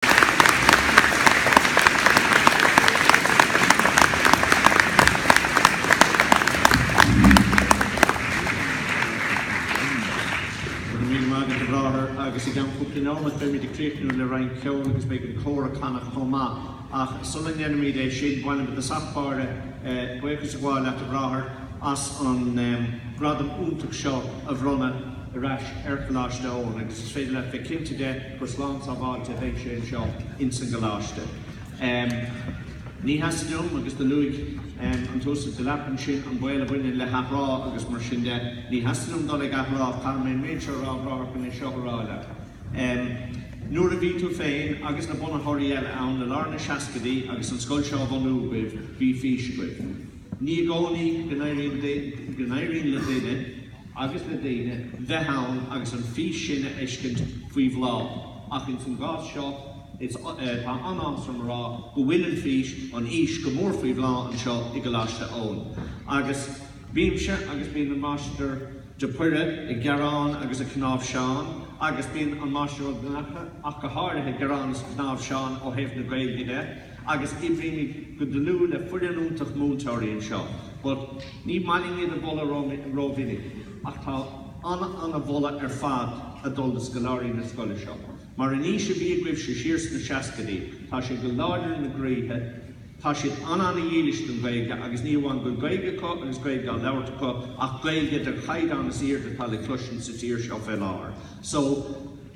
Go raibh míle maith agat, a Bhráthair, agus i gceann cúpla neomat beimid ag críochnú le roinnt ceoil agus beidh an cór ag canadh chomh maith. Ach sula ndéanfaimid é sin, ba mhian liomsa i dtosach báire buíochas a ghabháil leat, a Bhráthair, as an gradam iontach seo a bhronnadh ar ais ar Choláiste Eoin, agus is féidir leat bheith cinnte de, gur slán sábháilte a bheidh sé anseo ins an gcoláiste. Ní theastaíonn uaim, agus do luaigh an tUasal Delap ansin an baol a bhaineann le hathrá agus mar sin de, ní theastaíonn uaim dul ag athrá, caithfidh mé an méid seo a rá, gan é seo a rá leat. Nuair a bhí tú féin agus na bunaitheoirí eile ann i lár na seascaidí agus an scoil seo á bhunú agaibh, bhí fís agaibh. Ní i gcónaí go n-éiríonn le duine. agus le daoine bheith ann agus an fís sin a fheiscint faoi bhláth, ach ins an gcás seo is, tá an-áthas orm a rá, go bhfuil an fís, an fhís, go mór faoi bhláth anseo i gColáiste Eoin. Agus bímse, agus bíonn an Máistir de Poire, ag gearán agus ag cnáimhseán, agus bíonn an Máistir Ó Donnchadha, ach go háirithe, ag gearán is ag cnáimhseán, ó thaobh na Gaeilge de, agus oibrímid go dlúth le foireann iontach múinteoirí anseo but ní maith linn iad a mholadh rómhinic ach tá an-an-an-mholadh ar fad ag dul do scoláirí na scoile seo mar an fhís a bhí agaibhse siar sna seascaidí tá sé go láidir ina gcroíthe, tá siad an-an-dhílis don Ghaeilge agus ní hamháin go bhfuil Gaeilge acu agus Gaeilge á labhairt acu ach Gaeilge den chaighdeán is airde atá le cloisint sa tír seo fé láthair so